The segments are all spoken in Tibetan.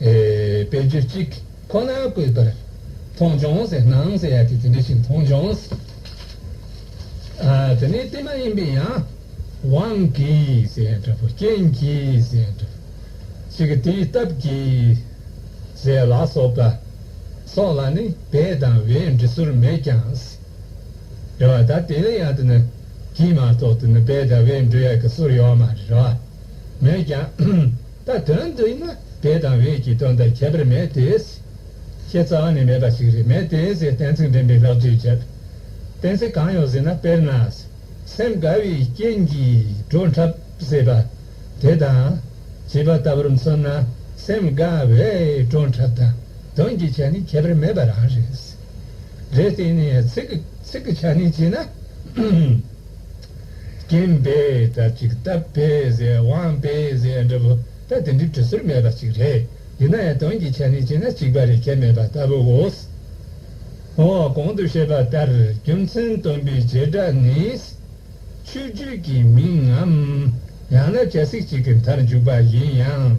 དཔེ་བརྗོད་ཅིག་ཁོ་ནར་བཀོད་པར། མཐོང་བྱུང་ཟེར་སྣང་ཟེར་ཡ་དེ་དེ་འདྲ་ཞིག་མཐོང་བྱུང། དེ་ནི་དེ་མ་ཡིན་པའི་ཡང། དབང་གིས་ཟེར་འདྲ་བུ་རྐྱེན་གྱིས་ཟེར་འདྲ་བུ། ཅིག་དེའི་སྟབས་ཀྱིས་ཟེར་ལ་སོགས་པ། སོགས་ལ་ནི་བས་དང་བས་འབྲི་སོར་མེད་ཀྱང། རེ་བ་ད་དེ་ལས་ཡང་དུ་ནི་གྱིས་མ་གཏོགས་དུ་ནི་བས་དང་བས་འབྲི་ཡ་གི་སོར་ཡོད་མ་རེ་བ་མེད་ཀྱང། ད་དོན་འདི་ནི་དེ་དང་བེད་ཀྱི་དོན་དང་ཁྱད་པར་མེད་དེ། ཁྱེད་རྩ་བ་ནས་མེད་པ་ཞིག་རེད་མེད་དེ་ཟེར་གཏན་ཚིགས་འདྲེན་པའི་ལྷག་བསྡུས་བྱེད། གཏན་ཚིགས་གང་ཡོད་ཟེར་ན་དཔེར་ན། སེམས་དགའ་བའི་རྐྱེན་གྱིས་བྲོ་འཁྲབ་ཟེར་པ་དེ་དང། བྱིས་པ་ལྟ་བུར་མཚོན་ན་སེམས་དགའ་བས་བྲོ་འཁྲབ་དང་དོན་གྱི་ཆ་ནི་ཁྱད་པར་མེད་པ་རང་རེད། རེད་དེ་ནས་ཚིག་གི་ཆ་ནི་བྱས་ན། རྐྱེན་པས་དགྲ་བགེགས་བསྟབས་པས་ཟས་དབང་པས་ཟས་འདྲ་བོ་ད་དེ་འདྲའི་དུས་ཚོད་མེད་པ་ཅིག་རེད། ཡིན་ན་ཡང་དོན་གྱི་ཆ་ནས་བྱས་ན་གཅིག་པ་རེ་ཁྱད་མེད་པ་ལྟ་བུའོ། འོ་གོང་དུ་བཤད་པ་ལྟར་རྒྱུ་མཚན་སྟོན་པའི་བྱེ་བྲག་ནི། ཆོས་བརྒྱུད་ཀྱི་མིང་ངམ་ཡང་ན་བྱ་ཚིག་ཅིག་གི་མཐར་འཇུག་པ་ཡིན་ཡང།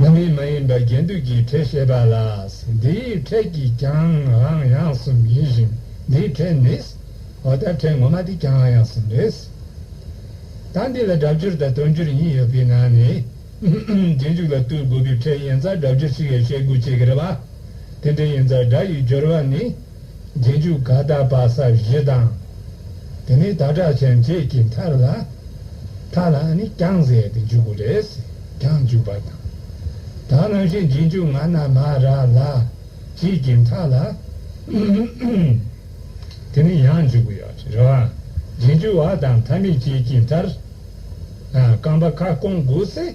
རྣམ་སྨིན་མ་ཡིན་པའི་རྒྱན་བསྡུས་ཀྱི་ཕྲད་བཤད་པ་ལ། འདིའི་ཕྲད་ཀྱིས་ཀྱང་རང་ཡང་གསུམ་ཡིན་ཞིང་འདིའི་ཕྲད་ནི། འོ་ད་ཕྲད་ངོ་མ་འདི་ཀྱང་ཡང་གསུམ་རེད། ད་འདི་ལ་སྒྲ་སྦྱོར་དང་དོན་སྦྱོར་གཉིས་ཡོད་པའི་ནང་ནས། རྗེས་འཇུག་ལ་བསྟུན་དགོས་པའི་ཕྲད་ཡན་ཚ་སྒྲ་སྦྱོར་ཞིག་ཡོད་བཤད་དགོས་ཅེས་ཟེར་བ། དེ་འདྲའི་ཡན་ཚ་སྒྲ་ཡི་སྦྱོར་བ་ནི། རྗེས་འཇུག་དགའ་དག་བག་ས་བཞི་དང། དེ་ནས་ད་དྲག་ཆེན་བརྒྱད་ཀྱི་མཐར་ལ། མཐར་ལ་ནི་བརྐྱང་བཟས་ཏེ་འཇུག་གོ་རེ་ཟེར་བརྐྱང་འཇུག་པ་དང། དག་སྣང་བཞི་རྗེས་འཇུག་ང་ན་མ་ར་ལ། བཞི་ཀྱི་མཐར་ལ། དེ་ནས་ཡང་འཇུག་གོ་ཡང་རེ་བ། རྗེས་འཇུག་བ་དང་མཐའ་མེད་བརྒྱད་ཀྱི་མཐར། རྐང་པ་ཁ་སྐོང་དགུ་བསྲེ།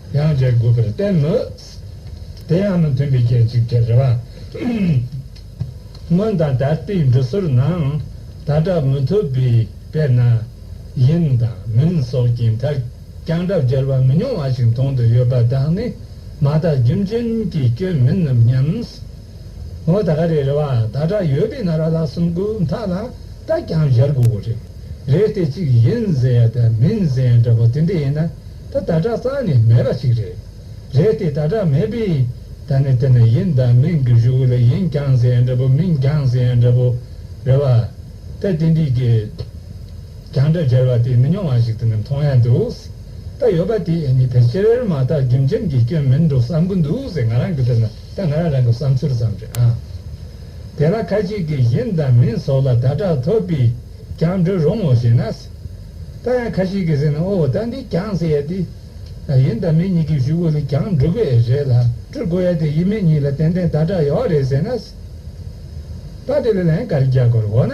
ཡང་བརྗེ་དགོས་པར་བསྟན་མོད། དེ་ཡང་མི་མཐུན་པའི་སྐྱེ་འཇིག་ཀྱི་རེ་བ། སྔོན་དང་ད་ལྟའི་འབྲི་སྲོལ་ནང་ད་དྲག་མི་ཐུབ་པའི་དཔེར་ན། ཡིན་དང་མིན་སོགས་ཀྱི་མཐར་རྐྱང་དྲག་འཇལ་བ་མི་ཉུང་བ་ཞིག་མཐོང་དུ་ཡོད་པ་དག་ནི་མ་དག་རྒྱུ་མཚན་གྱི་སྐྱོན་མིན་ནམ་སྙམ། ངོ་ད་ག་རེ་རེ་བ་ད་དྲག་ཡོད་པའི་ན་ར་ལགས་སུམ་དགུ་མཐའ་ལ་ད་རྒྱང་བཞར་དགོས་གོ་རེ་རེ་དེ་གཅིག་ཡིན་ཟེར་ཡ་ད་མིན་ཟེར་ཡ་འདྲ་པོ་དེ་འདྲ་ཡིན་ན་ད་ད་དྲག་རྩ་ནས་མེད་པ་ཞིག་རེད་རེད་དེ་ད་དྲག་མེད་པའི་ད་ནི་དེ་ན་ཡིན་ད་མིན་གི་གཞུག་གི་ལ་ཡིན་རྒྱང་ཟེར་ཡ་འདྲ་པོ་མིན་རྒྱང་ཟེར་ཡ་འདྲ་པོ་རེ་བ་ད་དེ་འདྲའི་གི་རྒྱང་འདྲ་བཞར་བ་དེ་མི་ཉུང་བ་ཞིག་དེ་ནས་མཐོང་ཡ་འདུག་ད་ཡོད་པ་དེ་ཨེ་ནི་ཕལ་ཆེར་མ་དག་རྒྱུ་མཚན་གྱི་སྐྱོན་མིན་འགྲོ་བསམ་གི་འདུག་ཟེར་ང་རང་གི་དེ་ན་ད་ང་རང་རང་གི་བསམ་ཚུལ་ཙམ་རེད་ཨང། དེ་ལ་ཁ་ཅིག་གིས་གཞན་དང་མིན་སོགས་ལ་བརྡ་དག་ཐོབ་པས་ཀྱང་འདྲི་རུང་ངོ་ཞེ་ན། ད་ཡང་ཁ་ཅིག་གིས་ཟེར་ན་ཨོ་ད་འདི་ཀྱང་ཟེར་ཡ་དེ། ཡིན་དང་མིན་གཉིས་ཀྱི་བཞུགས་སྒོ་ལས་ཀྱང་འགྲུབ་པས་རེད་ལ་སྤྲུལ་སྐུ་ཡ་དེ་ཡིན་མིན་གཉིས་ལ་ཏན་ཏན་བརྡ་དག་ཡོད་རེད་ཟེར་ན། ད་དེ་ལ་ལན་ག་རེ་རྒྱག་དགོས་རེད་འོ་ན།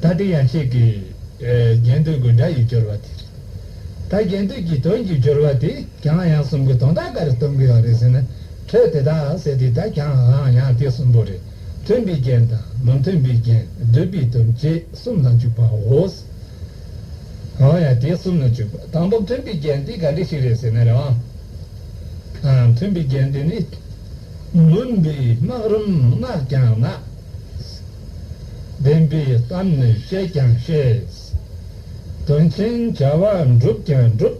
ད་དེ་ཡང་གཅིག་གིས་རྒྱན་སྟོན་དགོས་འདྲ་ཡི་སྦྱོར་བ་དེ་རེད། ད་རྒྱན་སྟོན་གྱི་དོན་གྱི་སྦྱོར་བ་དེ་གང་ཡང་གསུམ་གྱི་དོན་དག་ག་རེ་སྟོན་དགོས་ཡག་རེད་ཟེར་ན་འཕྲོས་དེ་དག་ཟེར་དེ་དག་གང་ཡང་ཡང་དེ་གསུམ་པོ་རེད་མཐུན་པའི་རྒྱན་དང་མི་མཐུན་པའི་རྒྱན་བསྡུས་པའི་དོན་བཅས་གསུམ་ལ་འཇུག་པའོ། གང་ཡང་དེ་གསུམ་ལ་འཇུག་པ་དང་པོ་མཐུན་པའི་རྒྱན་དེ་ག་འདྲ་ཞིག་རེད་ཟེར་ན་རེ་བ། མཐུན་པའི་རྒྱན་དེ་ནི་མུན་པའི་སྨག་རུམ་སྔགས་ཀྱང་སྔགས། བདེན་པའི་གཏམ་ནི་བཤད་ཀྱང་བཤད། དོན་ཆེན་བྱ་བ་འགྲུབ་ཀྱང་འགྲུབ།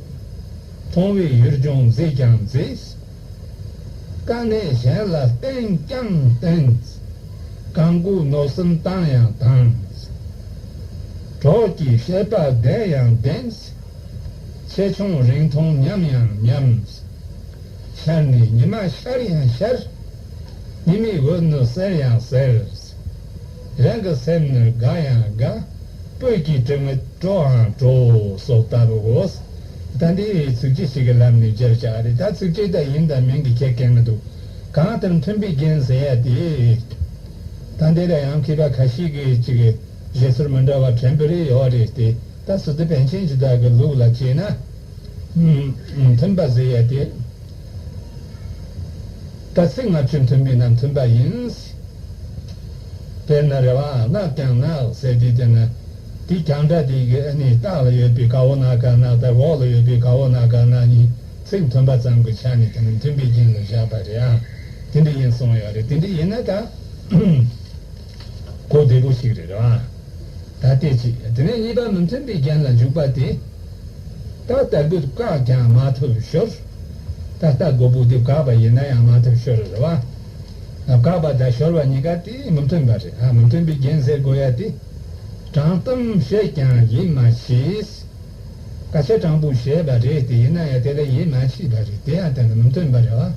མཐོང་བའི་ཡུལ་ལྗོངས་མཛེས་ཀྱང་མཛེས། དཀའ་གནད་གཞན་ལ་བསྟེན་ཀྱང་བསྟེན། གང་སྒུག་མནོ་བསམ་བཏང་ཡང་བཏང། གྲོགས་ཀྱི་བཤད་པ་བདེན་ཡང་བདེན། ཆེ་ཆུང་རིང་ཐུང་མཉམ་ཡང་མཉམ། ཤར་ནས་ཉི་མ་ཤར་ཡང་ཤར། ཡིད་མི་དགོས་ནི་གསལ་ཡང་གསལ། རང་གི་སེམས་ནི་དགའ་ཡང་དགའ། སྤོས་ཀྱི་དྲི་མི་སྤྲོའང་སྤྲོ། སོགས་ལྟ་བུ་གོ། ད་འདི་ཡི་ཚིག་ཅི་ཞིག་གི་ལམ་ནས་བརྗོད་བྱ་རེད་ད་ཚིག་ཅི་ལྟར་ཡིན་དང་མིན་གྱི་ཁྱད་ཀན་མི་འདུག་གང་ལྟར་མཐུན་པའི་རྒྱན་ཟེར་ཡ་དེ་རེད། ད་འདི་ལ་ཡང་མཁས་པ་ཁ་ཤིག་གིས་ཅིག་བཞེད་ཟུར་མི་འདྲ་བ་དྲན་པོ་རེ་ཡོད་རེད་དེ་ལྟར་ཟུར་དེ་པན་ཆེན་གྱི་བདག་གི་ལུགས་ལ་བྱས་ན། མཐུན་པ་ཟེར་ཡ་དེ། གལ་སྲིད་ང་ཚོའི་མཐུན་མིན་རྣམས་མཐུན་པ་ཡིན་ཟེར་ན་རེ་བའང་བརྣག་ཀྱང་བརྣག་ཟེར་གྱི་དེ་ན་དེ་གང་འདྲ་དེ་གི་ཨ་ནི་སྟག་ལ་ཡོད་པའི་དགའ་བོ་ནག་གང་ནག་ལྟར་འོག་ལ་ཡོད་པའི་དགའ་བོ་ནག་གང་ནག་གཉིས་ཚིག་མཐུན་པ་ཙམ་གྱི་ཆ་ནས་དེ་མི་མཐུན་པའི་རྐྱེན་ལ་བཞག་པ་རེའང་དེ་འདྲ་ཡིན་གསུངས་ཡོད་རེད་དེ་འདྲ་ཡིན་ན་ད། གོ་བདེ་པོ་ཞིག་རེད་རང་ད་ལྟའི་ཆེད་དེ་ནས་གཉིས་པ་མི་མཐུན་པའི་རྒྱན་ལ་འཇུག་པ་དེ་ད་ལྟ་དགོས་བཀག་ཀྱང་མ་ཐུབ་ཤོར། ད་ལྟ་དགོས་པོ་དེ་བཀག་པ་ཡིན་ན་ཡང་མ་ཐུབ་ཤོར་རེད་བ། བཀག་པ་དང་ཤོར་བ་གཉིས་ཀ་དེ་མི་མཐུན་པ་རེད་མི་མཐུན་པའི་རྒྱན་ཟེར་དགོས་ཡ་དེ། དྲང་གཏམ་བཤད་ཀྱང་ཡིན་མ་ཤེས། ཀ་ཚེ་སྤྲང་པོ་བྱས་པ་རེད་དེ་ཡིན་ན་ཡང་དེ་ལ་ཡིད་མ་ཆེས་པ་རེད་དེ་ཡང་དེ་ལ་མི་བསྟུན་པ་རེད་བ།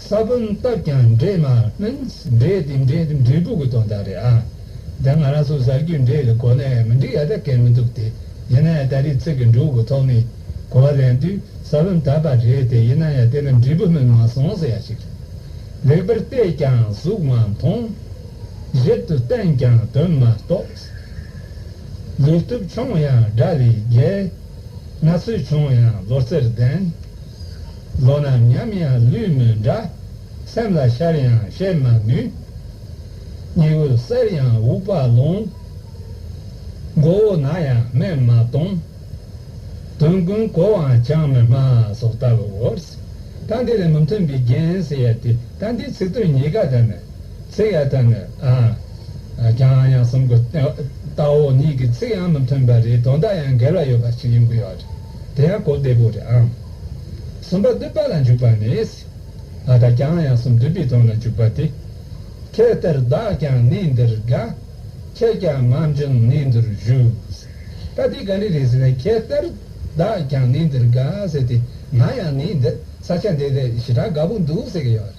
ས་བོན་བཏབ་ཀྱང་འདྲེས་མ means འདྲེས་དེ་འདྲེས་དེ་འབྲས་བུ་གི་དོན་དག་རེད་ཨ། དེ་སྔ་རང་སོ་གཟར་རྒྱུའི་འདྲེས་ལ་གོ་ནས་མི་འགྲིག་ཡ་ད་གལ་མི་འདུག་དེ་ཡིན་ན་ཡང་ད་རེས་ཚིག་གི་འབྲུ་གུ་ཐོག་མའི་གོ་བ་ལེན་དུས་ས་བོན་བཏབ་པ་རེད་དེ་ཡིན་ན་ཡང་དེ་ལ་འབྲས་བུ་སྨིན་མ་སོང་ཟེར་ཡ་ཞིག་རེད། ལེགས་པར་བལྟས་ཀྱང་གཟུགས་མ་མཐོང། ཞིབ་ཏུ་བསྟན་ཀྱང་དོན་མ་རྟོགས། ལུས་སྟོབས་ཆུང་ཡང་དགྲ་བོས་བརྒྱལ། ན་ཚོད་ཆུང་ཡང་ལོ་རྩེར་ལྡན། ལོ་ན་ཉམས་ཡང་ལུས་མི་འདྲ། སེམས་ལ་ཤར་ཡང་བཤད་མ་ནུས། སྙིང་བོ་གསལ་ཡང་འུག་པ་ལོང། མགོ་བོ་ན་ཡང་སྨན་མ་གཏོང། དོན་ཀུན་གོ་བའང་ཅང་མི་སྨྲ་སོགས་ལྟ་བུའོ། རྟ་འདི་ལས་མི་མཐུན་པའི་རྒྱན་ཟེར་ཡ་དེ་རྟ་འདིའི་ཚིག་དོན་ཉིད་ཀ་དག་ནི། ཚིག་ཡག་ཐོན་མེད་ཨ། ཀྱང་ཡང་གསུམ་གོ། ལྟ་བ་གཉིས་ཀྱི་ཚིག་ཡང་མི་མཐུན་པ་རེད་དོན་དག་ཡང་འགལ་བ་ཡོད་པ་ཞིག་ཡིན་དགོས་ཡོད་རེད་དེ་ཡང་གོ་བདེ་པོ་རེད་ཨང། གསུམ་པ་བསྡུས་པ་ལ་འཇུག་པ་ནས། ཨ་དང་ཀྱང་ཡང་གསུམ་བསྡུས་པའི་དོན་ལ་འཇུག་པ་དེ། ཁྱེད་ལྟར་བདག་ཀྱང་གནས་འདིར་དགའ། ཁྱེད་ཀྱང་མ་འཇོན་གནས་འདིར་བཞུགས། ད་དེ་ག་འདྲ་རེད་ཟེར་ན་ཁྱེད་ལྟར་བདག་ཀྱང་གནས་འདིར་དགའ་ཟེར་ཏེ་ང་ཡང་གནས་འདིར་ས་ཆ་འདི་ལས་ཞེ་དྲག་དགའ་པོ་འདུག་ཟེར་གྱི་ཡོད་རེད།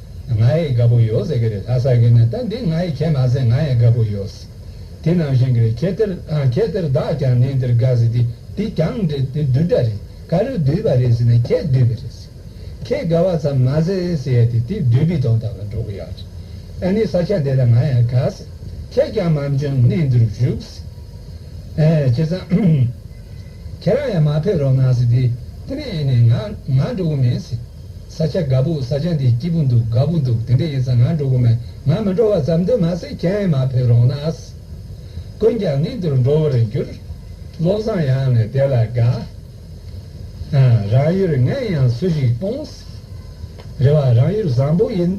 ང་ཡི་དགའ་པོ་ཡོད་ཟེར་གི་རེད་ལྷ་ས་གི་ནི་ད་འདི་ང་ཡི་ཁྱད་མ་ཟེར་ང་ཡི་དགའ་པོ་ཡོད། དེ་ནང་བཞིན་གི་རེད་ཁྱེད་དེར་ཨང་ཁྱེད་དེར་བདག་ཀྱང་ནི་འདིར་དགའ་ཟེར་དེ་འདི་ཀྱང་འདི་འདི་བདུད་འདྲ་རེད་ག་རེ་བདུད་པ་རེད་ཟེར་ནས་ཁྱེད་བདུད་པི་རེད་ཟེར། ཁྱེད་དགའ་བ་ཙམ་མ་ཟེར་ཟེར་ཡས་དེ་དེ་བདུད་པི་དང་བདག་ལ་འགྲོ་གི་ཡག་རེད་ཨ་ནི་ས་ཆ་འདི་ལ་ང་ཡང་དགའ་ཟེར་ཁྱེད་ཀྱང་མམ་ཅོན་ནི་འདིར་བཞུགས་ཟེར། ཨེ་ཁྱེད་ཚང་ཁྱེད་རང་ཡང་མ་ཕེབས་རོགས་གནང་ཟེར་དེ་དེ་ནས་ཨེ་ནས་ང་ང་འགྲོ་གི་མིན་ཟེར། ས་ཆ་དགའ་པོ་ས་ཆ་འདི་སྐྱིད་པོ་འདུག་དགའ་པོ་འདུག་དེ་འདྲ་ཡིན་ས་ང་འགྲོ་གི་མེད་ང་མི་འགྲོ་བ་ཙམ་དུ་མ་ཟད་ཁྱེད་མ་ཕེབས་རོགས་གནང། ཀུན་ཀྱང་ངས་འདིར་འགྲོ་བར་འགྱུར། བློ་བཟང་ཡང་ནི་དེ་ལ་དགའ། རང་ཡུལ་ངས་ཡང་སུ་ཞིག་སྤོངས། རེ་བ་རང་ཡུལ་བཟང་པོ་ཡིན།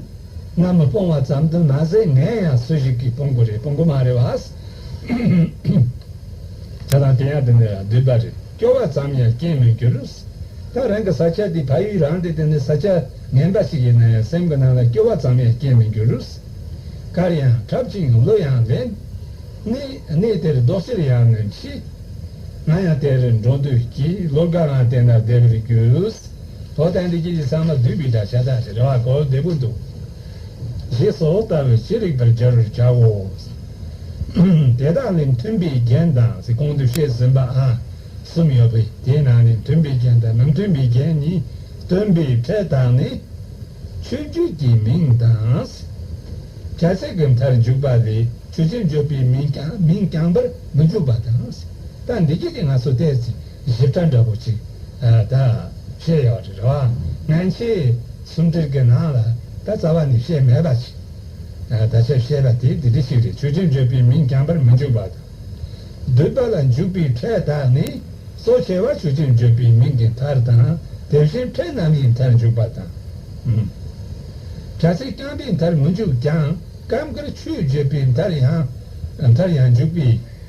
ང་མི་སྤོང་བ་ཙམ་དུ་མ་ཟད་ངས་ཡང་སུ་ཞིག་གིས་སྤོང་གི་རེད་སྤོང་གི་མ་རེད་བ། ད་དང་དེ་ཡང་དེ་འདྲ་འདུས་པ་རེད། སྐྱོ་བ་ཙམ་ཡང་སྐྱེས་མི་འགྱུར། ད་རང་གི་ས་ཆ་འདི་ཕ་ཡུལ་རང་སྟེ་འདི་ནི་ས་ཆ་ངན་པ་ཞིག་ཡིན་ན་ཡང་སེམས་ཀྱི་ནང་ལ་སྐྱོ་བ་ཙམ་ཡང་སྐྱེས་མི་འགྱུར། གར་ཡང་འཁྲབ་ཅིང་གླུ་ཡང་ལེན། གནས་གནས་དེར་རྡོག་ཕྱིར་ཡང་ནི་མཆི། ང་ཡང་དེར་འགྲོ་འདོད་ཀྱིས་ལོ་འགའ་ལའང་དེ་ན་བསྡད་པར་གྱུར། ལོ་དེ་འདྲ་ཞིག་གི་ཚང་མ་བདུད་པའི་དགྲ་ཤ་སྟག་ཞིག་རེ་བ་གོ་བདེ་པོ་འདུག། ཞེས་སོགས་ལྟ་བས་ཅི་རིགས་པར་སྦྱར་བར་བྱའོ། དེ་དག་ལས་མཐུན་པའི་རྒྱན་དང་ཚེ་གང་དུ་བཤད་ཟིན་པ་གསུམ་ཡོད་པས་དེའི་ནང་ནས་མཐུན་པའི་རྒྱན་དང་མི་མཐུན་པའི་རྒྱན་ནི་སྟོན་པའི་ཕྲད་དང་ནི། ཆོས་བརྒྱུད་ཀྱི་མིང་དང། བྱ་ཚིག་གི་མཐར་འཇུག་པ་ལས་ཆོས་ཅན་བརྗོད་པའི་མིང་རྐྱང་པར་མི་འཇུག་པ་དང། ད་འདི་སྐད་ཅེས་ང་སོ་བལྟས་ཚེ། གཞི་བདག་འདྲ་པོ་ཅིག་ད་བཤད་ཡག་རེད་རེད་བ། ངན་ཆེ། སུམ་སྒྲིལ་གྱི་ནང་ལ་ད་རྩ་བ་ནས་བཤད་མེད་པ་ཅིག་ད་ཆ་བཤད་པ་དེ་འདི་འདྲ་ཞིག་རེད་ཆོས་ཅན་བརྗོད་པའི་མིང་རྐྱང་པར་མི་འཇུག་པ་དང། སྡུད་པ་ལ་འཇུག་པའི་ཕྲད་དག་ནི་གཙོ་ཆེ་བ་ཆོས་ཅན་བརྗོད་པའི་མིང་གི་མཐར་དང་དེ་བཞིན་ཕྲད་རྣམ་དབྱེའི་མཐར་འཇུག་པ་དང། དྲ་ཚིགས་རྐྱང་པའི་མཐར་མི་འཇུག་ཀྱང་སྐབས་འགར་ཆོས་བརྗོད་པའི་མཐར་ཡང་འཇུག་པས།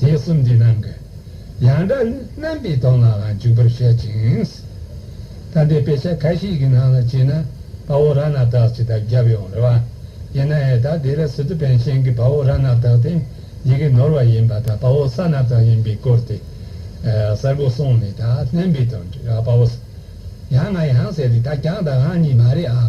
དེས་གསུམ་འདི་རྣམས་ཀྱི་ཡང་སྒྲ་རྣམ་པའི་དོན་ལའང་འཇུག་པར་བཤད་ཅིང། ད་ལྟའི་དཔེ་ཆ་ཁ་ཤས་ཀྱི་ནང་ལ་བྱས་ན་བ་བོ་ར་ནག་དག་ཅེས་དག་བརྒྱབ་ཡོང་རེ་བ་ཡིན་ན་ཨེ་དག་དེ་ལ་སི་ཏུ་བན་ཤན་གྱི་བ་བོ་ར་ནག་དག་དེ་ཡི་གེ་ནོར་བ་ཡིན་པ་དང་བ་བོ་ས་ནག་དག་ཡིན་པའི་སྐོར་དེ་གསལ་པོ་གསུངས་ནས་དག་རྣམ་པའི་དོན་བྲི་བ་བ་བོ་ཡང་ང་ཡང་ཟེར་དེ་དག་ཀྱང་དག་གང་ཉིད་མ་རེད་ཨང།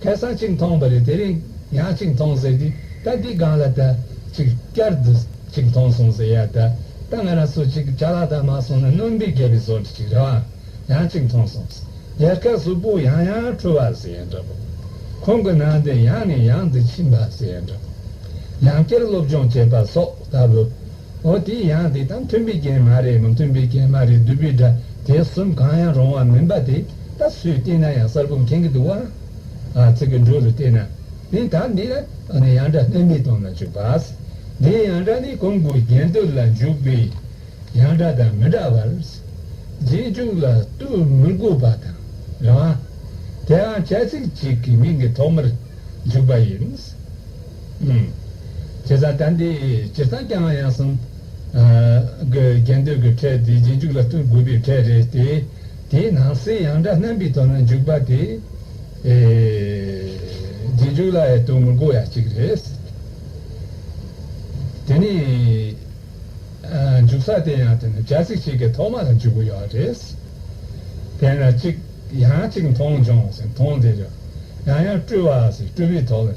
ཁལ་སང་གཅིག་མཐོང་བ་རེད་དེ་རིང་ཡང་གཅིག་མཐོང་ཟེར་གི་ད་དེའི་སྒང་ལ་ད་ཅིག་བསྐྱར་དུ་གཅིག་མཐོང་སོང་ཟེར་ཡ་ད་ད་ང་རང་ཚོ་གཅིག་བྱ་ལ་ད་མ་སོང་ན་རྣོན་པའི་རྒྱལ་བའི་བཟོ་འདྲི་གཅིག་རེད་བ་ཡང་གཅིག་མཐོང་སོང་ཟེར་ཡ་ཁལ་གཟུགས་པོ་ཡང་ཡང་འཁྲུལ་བ་ཟེར་ཡ་འདྲ་པོ་ཁོང་གི་ནང་དེ་ཡང་ནས་ཡང་དུ་ཕྱིན་པ་ཟེར་ཡ་འདྲ་པོ་ཡང་བསྐྱར་སློབ་སྦྱོང་བྱེད་པ་སོགས་ལྟ་བུ། འོ་དེ་ཡང་དེ་དང་མཐུན་པའི་རྐྱེན་མ་རེད་མ་མཐུན་པའི་རྐྱེན་མ་རེད་འདུས་པའི་སྒྲ་དེ་གསུམ་གང་ཡང་རུང་བ་མིན་པ་དེ་ད་སུས་བལྟས་ན་ཡང་གསར་བུ་མཁྱེན་གྱི་འདུག་བ། ཚིག་གི་འགྲོས་རུ་བལྟས་ན་ནི་ད་འདི་ལ་ཡང་སྒྲ་སྣོན་མི་གཏོང་ན་ཅུག་བ། འདིའི་ཡང་སྒྲ་ནི་གོང་གི་རྒྱན་སྟོད་ལ་འཇུག་པའི་ཡང་སྒྲ་དང་མི་འདྲ་བར། རྗེས་འཇུག་ལ་བསྟུད་མི་དགོས་པ་དང་རེད་བ། དེའང་བྱ་ཚིག་ཅིག་གི་མིང་གི་ཐོག་མར་འཇུག་པ་ཡིན། བྱས་ཙང་དགྲ་འདི་ཇི་ཙམ་སྐྱ་ང་ཡང་སང། རྒྱལ་འདོད་ཀྱི་ཁྲལ་དེ་རྗེས་འཇུག་ལ་བསྟུན་དགོས་པའི་ཁྲལ་རེད་དེ། དེའི་ནང་གསེས་ཡང་དགྲ་རྣམ་པའི་དོན་ལ་འཇུག་པ་དེ། རྗེས་འཇུག་ལ་ཡང་བསྟུན་དགོས་ཡ་གཅིག་རེད། དེ་ནས། འཇུག་ས་དེ་ཡང་དེ་ནས་བྱ་ཚིག་ཅིག་གི་ཐོག་མ་ལ་འཇུག་དགོས་ཡ་རེད། དེ་ན་གཅིག་ཡང་གཅིག་མཐོང་བྱུང་ཟེར་མཐོང་དེ་རེད། ཡང་ཡང་བཀྲུས་བ་ཟེར་བཀྲུས་པའི་ཐོག་ལ།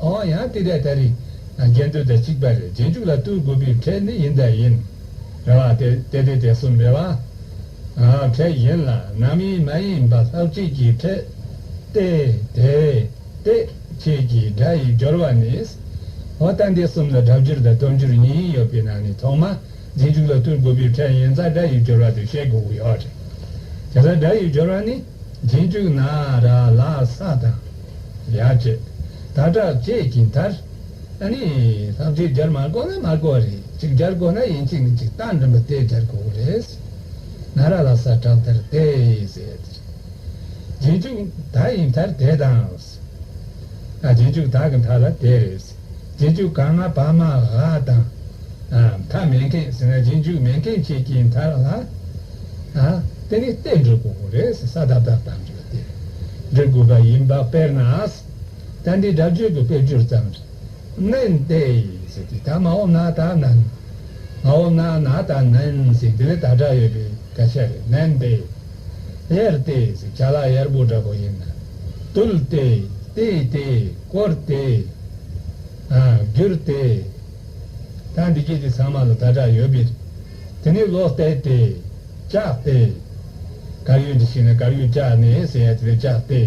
ཨང་ཡང་ཏི་ཏའི་ད་རིག། རྒྱན་སྟོད་ད་གཅིག་པ་རེ་རྗེས་འཇུག་ལ་ཏུའི་དགོས་པའི་ཕྲད་ནི་ཡིན་ད་ཡིན། རེ་བ་ཏེ་ཏའི་ཏི་ཏའི་གསུམ་རེ་བ། ཕྲད་ཡིན་ལ་ནམ་ཡིན་མ་ཡིན་པ་ལྷག་བཅས་ཀྱི་ཕྲད། ཏའི་ཏའི་ཏའི་བཅས་ཀྱི་སྒྲ་ཡི་སྦྱོར་བ་ནི། ཨོ་ཏའི་ཏའི་གསུམ་ལ་སྒྲ་སྦྱོར་དང་སྟོབས་འབྱོར་གཉིས་ཡོད་པའི་ནང་ནས་ཐོག་མ་རྗེས་འཇུག་ལ་ཏུའི་དགོས་པའི་ཕྲད་ཡིན་ཙང་སྒྲ་ཡི་སྦྱོར་བ་དེ་ཤེས་དགོས་ཀྱི་ཡོད། དེ་ལྟར་སྒྲ་ཡི་སྦྱོར་བ་ནི་རྗེས་འཇུག་ན་ར་ལ་ས་དང། ཡ་ཁྱེད། ད་དྲག་བཅས་ཀྱིས་མཐར། ཨ་ནི། ལྷག་གཅིག་སྦྱར་མ་དགོས་ན་མ་དགོས་པ་རེད་གཅིག་སྦྱར་དགོས་ན་ཡིན་གཅིག་ནི་གཅིག་སྟངས་འགྲིམ་པ་དེ་སྦྱར་དགོས་གི་རེད། ན་ར་ལ་ས་དྲག་དེར་བལྟས། རྗེས་འཇུག་ད་ཡིན་མཐར་དེ་དང། རྗེས་འཇུག་ད་གི་མཐའ་ལ་དེ་རེད། རྗེས་འཇུག་ག་ང་བ་མ་ག་དང། མཐའ་མེད་མཁན་ཟེར་ན་རྗེས་འཇུག་མེད་མཁན་བཅས་ཀྱིས་མཐར་ལ། དེ་ནི་བལྟས་འགྲོ་དགོས་གི་རེད་ས་དག་དག་དང། འབྲི་དགོས་པ་ཡིན་པ་དཔེར་ན། ད་འདི་སྒྲ་བརྗོད་ཀྱི་དཔེར་བསྒྱུར་ཙམ། སྨན་ཏེ། ད་མ་འོ་ན་ད་ནན། མ་འོ་ན་ན་ད་ནན། འདི་ལས་ད་སྒྲ་ཡོད་པའི་སྐད་ཆ་རེད། སྨན་ཏེ། གཡེར་ཏེ། བྱ་ལ་གཡར་པོ་འདྲ་པོ་ཡིན་ན། བཏུལ་ཏེ། བཏིལ་ཏེ། བསྐོར་ཏེ། བསྒྱུར་ཏེ། ད་འདི་སྐད་ཅིག་ཚང་མ་ལ་ད་སྒྲ་ཡོད་པའི། དེ་ནས་ལོག་ལྟས་ཏེ། བཅག་སྟེ། གར་ཡོད་འདི་ཞིག་ན་གར་ཡོད་བཅག་ནས་ཟེར་ཡ་དེ་ལས་བཅག་སྟེ།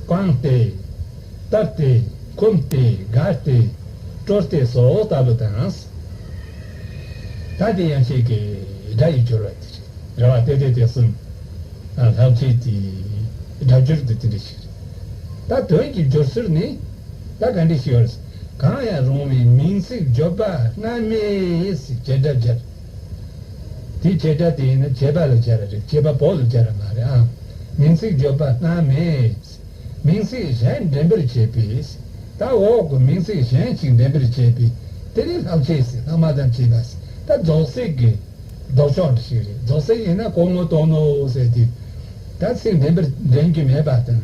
བཀང་སྟེ། བཏབ་སྟེ། འཁུམ་སྟེ། དགར་སྟེ། བཀྲོལ་སྟེ་སོགས་ལྟ་བུ་དང། ད་དེ་ཡང་ཁྱེད་ཀྱི་སྒྲ་ཡི་སྦྱོར་བ་དེ་རེད། རེ་བ་སྟེ་དེ་དེ་གསུམ། ལྷག་ཆད་དེ། སྒྲ་སྦྱོར་དེ་དེ་འདྲ་ཞིག་རེད། ད་དོན་གྱི་སྦྱོར་ཚུལ་ནི། ད་ག་འདྲ་ཞིག་ཡོད་རེད། གང་ཡང་རུང་བའི་མིང་ཚིག་སྦྱོར་པ་སྔ་མས་བྱེད་སྒྲ་སྦྱར། དེ་བྱེད་སྒྲ་དེ་ཡིན་ན་བྱེད་པ་ལ་སྦྱར་བ་རེད་བྱེད་པ་པོ་ལ་སྦྱར་བ་མ་རེད་ཨང། མིང་ཚིག་སྦྱོར་པ་སྔ་མས་མིང་ཚིག་གཞན་འདྲེན་པར་བྱེད་པས། ད་འོག་གི་མིང་ཚིག་གཞན་ཞིག་འདྲེན་པར་བྱེད་པས་དེ་ནི་ལྷག་བྱས་སི་ལྷག་མ་དང་བྱེད་པ་སི་ད་རྫོགས་ཚིག་གི་ལྡོག་ཕྱོགས་རེ་ཞིག་རེད་རྫོགས་ཚིག་ཡིན་ན་གོང་ངོ་གཏོང་ནོ་ཟེར་དུས། ད་ཚིག་འདྲེན་པར་འདྲེན་རྒྱུ་མེད་པ་དང།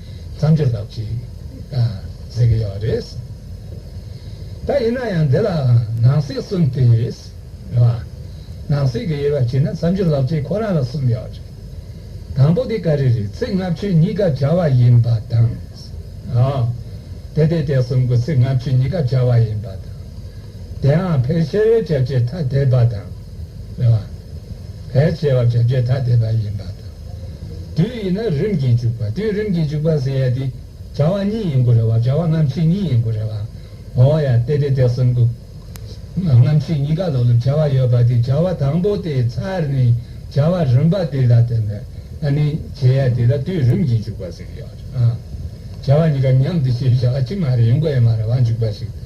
མཚམས་གཅོད་ཐབས་ཅིག་ཟེར་གྱི་ཡོད་རེད། ད་ཡིན་ན་ཡང་འདི་ལ་ནང་སྲིད་གསུམ་དེ་རེད། ནང་སྲིད་ཀྱི་དབྱེ་བ་ཕྱེ་ན་མཚམས་གཅོད་ལབ་ཅིག་ཁོ་རང་ལ་གསུམ་ཡོད་རེད། དང་པོ་དེ་ག་རེ་རེད་ཚིག་ལྔ་བཅུ་གཉིས་ཀ་བྱ་བ་ཡིན་པ་དང། དེ་དེ་དེ་གསུམ་གོ་ཚིག་ལྔ་བཅུ་གཉིས་ཀ་བྱ་བ་ཡིན་པ་དང། དེའང་ཕལ་ཆེར་བྱ་བྱེད་ཐ་དད་པ་དང། ལ་བས་བྱེ་བ་བརྒྱ་བརྒྱས་ཐ་དད་པ་ཡིན་པ་དང། དུས་ཡིན་ན་རིམ་གྱིས་འཇུག་པ་དུས་རིམ་གྱིས་འཇུག་པ་ཟེར་ཡས་དེ་བྱ་བ་གཉིས་ཡིན་གོ་རེ་བ་བྱ་བ་རྣམ་ཤེས་གཉིས་ཡིན་གོ་རེ་བ་འོ་ཡ་སྟེ་དེ་དེ་གསུམ་གོ། རྣམ་ཤེས་གཉིས་ཀ་ལ་ལུགས་བྱ་བ་ཡོད་པ་དེ་བྱ་བ་དང་པོ་དེའི་མཚར་ནི་བྱ་བ་རིམ་པ་དེ་ལ་བརྟེན་ནས་ཨ་ནི་བྱེད་ཡས་དེ་ལ་དུས་རིམ་གྱིས་འཇུག་པ་ཟེར་གི་ཡོད། བྱ་བ་གཉིས་ཀ་མཉམ་དུ་བྱེད་བྱ་བ་གཅིག་མ་རེད་ཡིན་གོ་ཡ་མ་རེ་བ་འཇུག་པ་ཞིག་དང།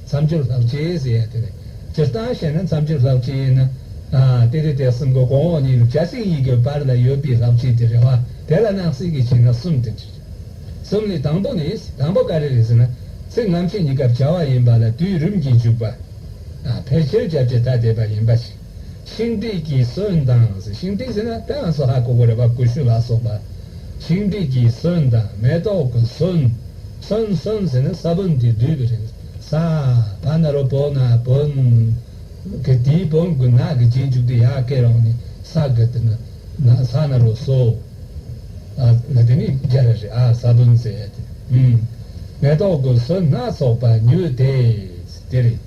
མཚམས་སྦྱོར་ལྷག་བཅས་ཟེར་ཡང་དེ་ལས་སྤྱིར་བཏང་བཤད་ན་མཚམས་སྦྱོར་ལྷག་བཅས་ཡིན། དེ་དེ་དེ་གསུམ་གོ་གོང་འོག་གཉིས་ལུགས་བྱ་ཚིག་གཉིས་ཀྱི་བར་ལ་ཡོད་པའི་ལྷག་བཅས་དེ་རེ་བ་དེ་ལ་སྣང་སྲིད་ཀྱི་ཕྱིར་ན་གསུམ་དུ་བྲིས། གསུམ་ལས་དང་པོ་ནི་དང་པོ་ཀ་རེ་རེད་ཟེར་ན་ཚིག་རྔམ་ཆེན་གཉིས་སྐབས་བྱ་བ་ཡིན་པ་ལ་དུས་རིམ་གྱིས་འཇུག་པ། ཕལ་ཆེར་སྐྱབས་བཅས་ཐ་དད་པ་ཡིན་པ་ཞིག། ཤིང་འབྲས་ཀྱི་སོན་དང། ཤིང་འབྲས་ཟེར་ན་དེ་ཡང་སོ་ཧ་གོ་གོ་རེ་བ་ཀུ་ཤུ་ལ་སོགས་པ། ཤིང་འབྲས་ཀྱི་སོན་དང་མེ་ཏོག་གི་སོན། སོན་སོན་ཟེར་ན་ས་བོན་དེ་བསྡུས་པའི་རིང་ས། བ་ན་རོ་བོ་ན་བོན། གི་དེའི་བོན་གྱི་ནགས་ཀྱི་རྗེས་འཇུག་དེ་ཡར་སྐད་རོང་ནི་ས་གི་དེ་ན་ན་ས་ན་རོ་སོ། ཨ་ན་དེ་ནི་རྒྱ་ར་རི་ཨ་ས་བོན་ཟེར་ཡ་དེ། མེ་ཏོག་གི་སོན་སྣ་ཚོགས་པ་ཉོས་ཏེ། དེ་རེད་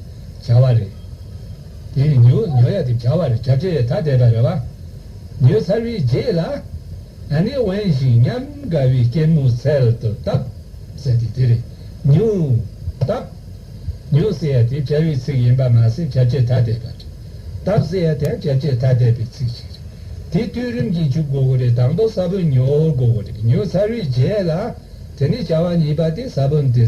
བྱ་བ་རེད། དེ་ནི་ཉི་འོད་ཉོ་ཡ་དེ་བྱ་བ་རེད་བྱ་བྲལ་ཐ་དད་པ་རེད་བ། ཉོས་ཚར་བའི་རྗེས་ལ། ཨ་ནེ་དབེན་ཞིང་ཉམས་དགའ་བའི་སྐྱེད་མོ་ཚལ་དུ་བཏབ། ཟེར་ཏེ་དེ་རེད། ཉི་འོད། བཏབ། ཉོས་ཟེར་ཡ་དེ་བྱ་བའི་ཚིག་ཡིན་པ་མ་ཟད་བྱ་བྱེད་ཐ་དད་པ་རེད། བཏབ་ཟེར་ཡ་དེའང་བྱ་བྱེད་ཐ་དད་པའི་ཚིག་ཅིག་རེད། དེ་བསྟུན་རིམ་གྱིས་འཇུག་དགོས་གོ་རེད་དང་པོ་ས་བོན་ཉོ་དགོས་གོ་རེད་ཉོས་ཚར་བའི་རྗེས་ལ། དེ་ནི་བྱ་བ་གཉིས་པ་སྟེ་ས་བོན་དེ།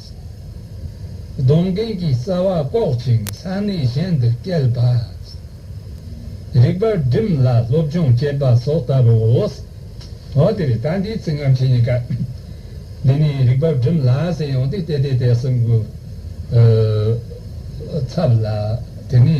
སྡོང་རྒན་གྱི་རྩ་བ་བཀོག་ཅིང་ས་གནས་གཞན་དུ་བསྐྱལ་བ། རིག་པ་སྒྲིམས་ལ་སློབ་སྦྱོང་བྱེད་པ་སོགས་ལྟ་བུའོ། འོན་ཏེ་ད་འདིའི་ཚིག་རྔམ་བྱེད་གཉིས་ཀ་འདི་ནི་རིག་པ་སྒྲིམས་ལ་ཟེར་ཡོང་སྟེ་བལྟས་བལྟས་བལྟས་སུ་འགོས། ཚབ་ལ་དེ་ནི།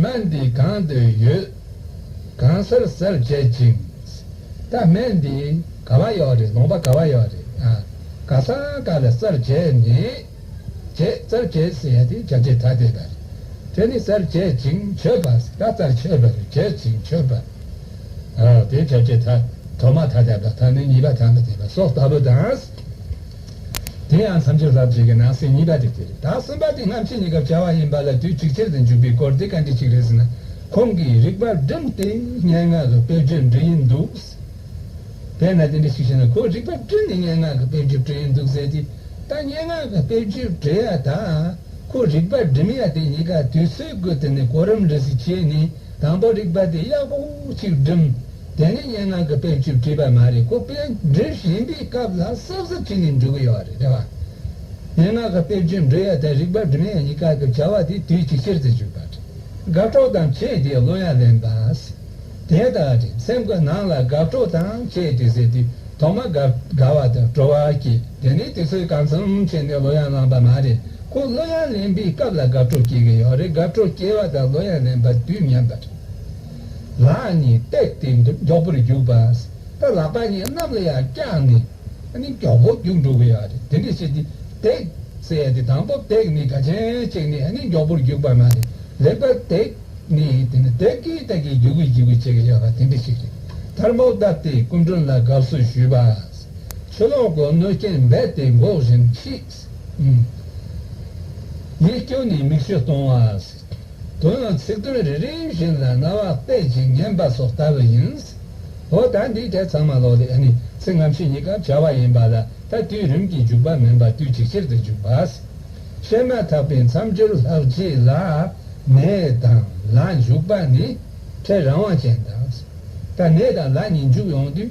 སྣ་འདི་གང་དུ་ཡོད། གང་སར་གསལ་བྱེད་ཅིང། ད་སྨད་འདི་ག་བ་ཡོག་རེད་ལོང་པ་ག་བ་ཡོག་རེད། ག་ས་ག་ལ་གསལ་བྱེད་ནི། བྱེད་གསལ་བྱེད་ཟེར་ཡ་དེ་བྱ་བྱེད་ཐ་དད་པ་རེད། དེ་ནི་གསལ་བྱེད་ཅིང་ཆོད་པ་ཟེར་ད་གསལ་བྱེད་པ་རེད་བྱེད་ཅིང་ཆོད་པ། དེ་བྱ་བྱེད་ཐ་དོ་མ་ཐ་དད་པ་ད་ནི་གཉིས་པ་ཐ་མི་དད་པ་སོགས་ལྟ་བུ་དང། དེ་ཡང་ཐམས་ཅད་ཟབ་ཅིག་གི་ནང་གསེས་གཉིས་པ་དེ་དེ་རེད་ད་གསུམ་པ་དེ་སྔ་ཕྱི་གཉིས་ཀར་བྱ་བ་ཡིན་པ་ལ་དུས་གཅིག་ཆར་དུ་འཇུག་པའི་སྐོར་དེ་བཀའ་འདྲི་ཞིག་རེད་ཟེར་ན་ཁོང་གིས་རིག་པར་བསྒྲིམས་ཏེ་སྙན་ངག་གི་དཔེ་བརྗོད་འབྲི་ཡི་འདུག་ཟེར། དེས་ན་དེ་འདྲ་ཞིག་བྱས་ན་ཁོས་རིག་པ་བསྒྲིམས་ནས་སྙན་ངག་གི་དཔེ་བརྗོད་བྲིས་ཡི་འདུག་ཟེར་ཏེ། ད་སྙན་ངག་གི་དཔེ་བརྗོད་བྲིས་ཡ་དང་ཁོས་རིག་པ་བསྒྲིམས་ཡ་དེ་གཉིས་ཀ་དུས་ཚོད་བགོས་ཏེ་ནས་གོ་རིམ་འགྲིག་གཟིགས་བྱས་ནས་དང་པོ་རིག་པ་དེ་ཡག་པོ་ཅིག་བསྒྲིམས། དེ་ནི་སྙན་ངག་གི་དཔེར་བརྗོད་བྲིས་པ་མ་རེད་ཁོ་དཔེ་འབྲི་བཞིན་པའི་སྐབས་ལ་སྲབ་སྲབ་བྲིས་ནས་འབྲི་གི་ཡོད་རེད་དེ་བ། སྙན་ངག་གི་དཔེར་བརྗོད་འབྲི་ཡ་དང་རིག་པ་འབྲི་མ་ཡ་གཉིས་ཀ་གི་བྱ་བ་དེ་དུས་གཅིག་ཕྱིར་དུ་འཇུག་པ་རེད། དགའ་སྤྲོ་དང་བཅས་ཏེ་གླུ་དབྱངས་ལེན་པ། དེ་ལྟར་རེད་སེམས་ཀྱི་ནང་ལ་དགའ་སྤྲོ་དང་བཅས་ཏེ་ཟེར་དུས་ཐོག་མ་དགའ་བ་དང་སྤྲོ་བ་སྐྱེས་དེ་ནས་དུས་ཚོད་གང་འཚམ་ཕྱིན་ནས་གླུ་དབྱངས་བླངས་པ་མ་རེད་ཁོ་གླུ་དབྱངས་ལེན་པའི་སྐབས་ལ་དགའ་སྤྲོ་སྐྱེས་གི་ཡོད་རེད་དགའ་སྤྲོ་སྐྱེས་བ་དང་གླུ་དབྱངས་ལེན་པ་དུས་མཉམ་པ་རེད། ལག་གཉིས་བཏེགས་ཏེ་མགྱོགས་པོར་རྒྱུག་པ། ད་ལག་པ་གཉིས་གནམ་ལ་ཡར་བཀྱགས་ནས། མགྱོགས་པོར་རྒྱུག་འགྲོ་དགོས་ཡོད། དེ་འདྲ་བྱས་ཏེ་བཏེགས། ཟེར་ཏེ་དང་པོ་བཏེགས་ནས་དྲ་ཆེན་བཅིངས་ནས་མགྱོགས་པོར་རྒྱུག་པ་མ་རེད། ལེགས་པར་བཏེགས་ནས་དེ་ནི་བཏེགས་ཀྱི་བཏེགས་ཀྱི་རྒྱུག་གི་རྒྱུག་གི་བྱེད་ཀྱི་ཡོད་པ་དེ་འདྲ་ཞིག་རེད། མཐར་མོ་བཏབ་སྟེ་སྐུ་མགྲོན་ལ་དགའ་བསུ་ཞུས་པ། ཆུ་ལོག་གོ་གནོད་རྐྱེན་རྦད་དེ་འགོག་བཞིན་མཆིས། ཡིད་སྐྱོ་ནས་མིག་ཆུ་གཏོང་བ། དོན་ལ་ཚིག་དོན་རེ་རེ་བཞིན་ལ་རྣ་བ་དཔེ་ཅིག་ཉན་པ་སོགས་ལྟ་བུ་ཡིན། འོ་ད་འདིའི་གྲས་ཚང་མ་ལོག་ལས་ནི་ཚིག་ངམ་ཤེས་གཉིས་ཀར་བྱ་བ་ཡིན་པ་ལ་ད་དུས་རིམ་གྱིས་འཇུག་པ་མིན་པར་དུས་གཅིག་ཕྱིར་དུ་འཇུག་པ། བཤད་མ་ཐག་པའི་མཚམས་སྦྱོར་ལྷག་བཅས་ལ། ནས་དང་ལ་འཇུག་པ་ནི་ཕྲད་རང་དབང་ཅན་དང། ད་ནས་དང་ལ་གཉིས་འཇུག་ཡོང་དུས།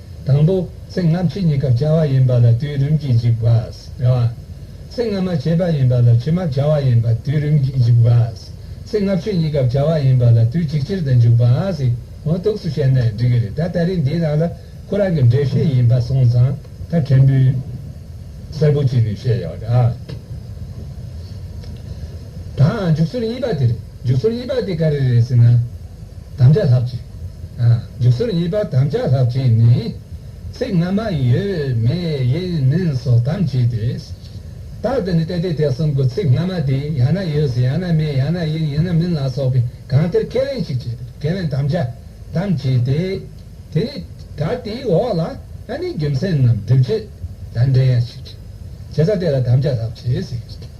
དང་པོ། ཚིག་སྔ་ཕྱི་གཉིས་ཀར་བྱ་བ་ཡིན་པ་ལ་དུས་རིམ་གྱིས་འཇིག་པ། ཚིག་སྔ་མ་བྱེད་པ་ཡིན་པ་ལ་ཕྱི་མ་བྱ་བ་ཡིན་པ་དུས་རིམ་གྱིས་འཇིག་པ། ཚིག་སྔ་ཕྱི་གཉིས་ཀར་བྱ་བ་ཡིན་པ་ལ་དུས་གཅིག་ཕྱིར་དུ་འཇུག་པ། ངོ་གཏུགས་སུ་བཤད་ན་འགྲིག་གི་རེད་ད་ལྟ་རིང་འདིའི་ནང་ལ་ཁོ་རང་གི་འགྲེལ་བཤད་ཡིན་པ་སོང་ཙང་ད་ཕྲན་བུ་གསལ་པོ་བྱས་ནས་བཤད་ཡག་རེད་ཨ། དང་འཇུག་ཚུལ་གཉིས་པ་དེ་རེད། འཇུག་ཚུལ་གཉིས་པ་དེ་ག་རེ་རེད་ཟེར་ན། དམ་བཅའ་ལྷག་བཅས། འཇུག་ཚུལ་གཉིས་པ་དམ་བཅའ་ལྷག་བཅས་ནི། ཚིག་སྔ་མ་ཡོད་མེད་ཡིན་མིན་སོགས་དམ་བཅས་ཏེ། རྟགས་དེ་ནི་ཏེ་ཏེ་ཏེ་གསུམ་གོ་ཚིག་སྔ་མ་དེ་ཡང་ན་ཡོད་ཟེར་ཡང་ན་མེད་ཡང་ན་ཡིན་ཡིན་ན་མིན་ལ་སོགས་པའི་གང་ལྟར་ཁས་ལེན་ཞིག་བྱས་པས་ཁས་ལེན་དམ་བཅའ་དམ་བཅས་ཏེ། དེ་ནི་ད་དེའི་འོག་ལ་ཨ་ནི་རྒྱུ་མཚན་རྣམས་སྒྲིབ་བྱེད་དང་འབྲེལ་ཡང་ཞིག། བྱེད་ས་དེ་ལ་དམ་བཅའ་ལྷག་བཅས་ཟེར།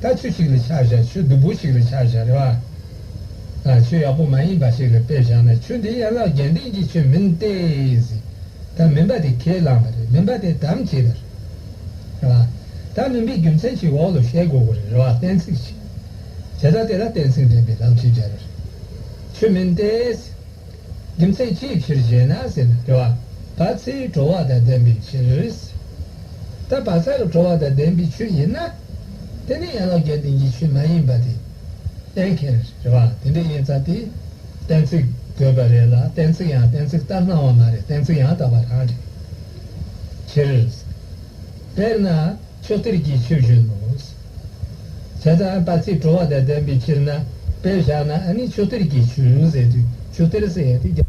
ད་ཆུ་ཞིག་ལ་ཆ་བཞག་ཆུ་སྡུག་པོ་ཞིག་ལ་ཆ་བཞག་རེད་བ། ཆུ་ཡག་པོ་མ་ཡིན་པ་ཞིག་ལ་དཔེ་བཞག་ན་ཆུ་འདི་ཡན་ལག་རྒྱན་ལྡན་གྱི་ཆུ་མིན་ཏེ། ད་མིན་པ་དེ་ཁས་བླངས་པ་རེད་མིན་པ་དེ་དམ་བཅས་པ་རེད་བ། ད་མིན་པའི་རྒྱུ་མཚན་ཞིག་འོག་ལ་བཤད་དགོས་གོ་རེད་བ་གཏན་ཚིགས་ཤིག། བྱེད་སྟངས་དེ་ལ་གཏན་ཚིགས་འདྲེན་པའི་ལམ་ཞིག་བྱ་རེད། ཆུ་མིན་ཏེ། རྒྱུ་མཚན་ཅིའི་ཕྱིར་ཞེ་ན་ཟེར་ན་དྲི་བ་བ་ཚྭའི་དྲོ་བ་དང་ལྡན་པའི་ཕྱིར། ད་བ་ཚྭ་རུ་དྲོ་བ་དང་ལྡན་པའི་ཆུ་ཡིན་ན། དེ་ནི་ཡན་ལག་བརྒྱད་ལྡན་གྱི་ཆུ་མ་ཡིན་པ་དེ་གཏན་འཁེལ་རེད། དྲི་བ་དེ་འདྲ་ཡིན་ཚ་དེ་གཏན་ཚིགས་དགོས་པ་རེད་ལ་གཏན་ཚིགས་ཡང་གཏན་ཚིགས་ལྟར་སྣང་བ་མ་རེད་གཏན་ཚིགས་ཡང་དག་པ་རང་རེད། ཕྱིར། དཔེར་ན་ཕྱོགས་སྟེར་གྱི་ཆུ་བཞིན་ནོ། བྱས་ཙང་དག་ཚིག་བྲོ་བ་དང་ལྡན་པའི་ཕྱིར་ན་དཔེ་བཞག་ན་ནི་ཆུ་གཏེར་གྱི་ཆུ་ཟེར་དུས་ཆུ་གཏེར་ཟེར་ཡང་དེ་རྒྱབ།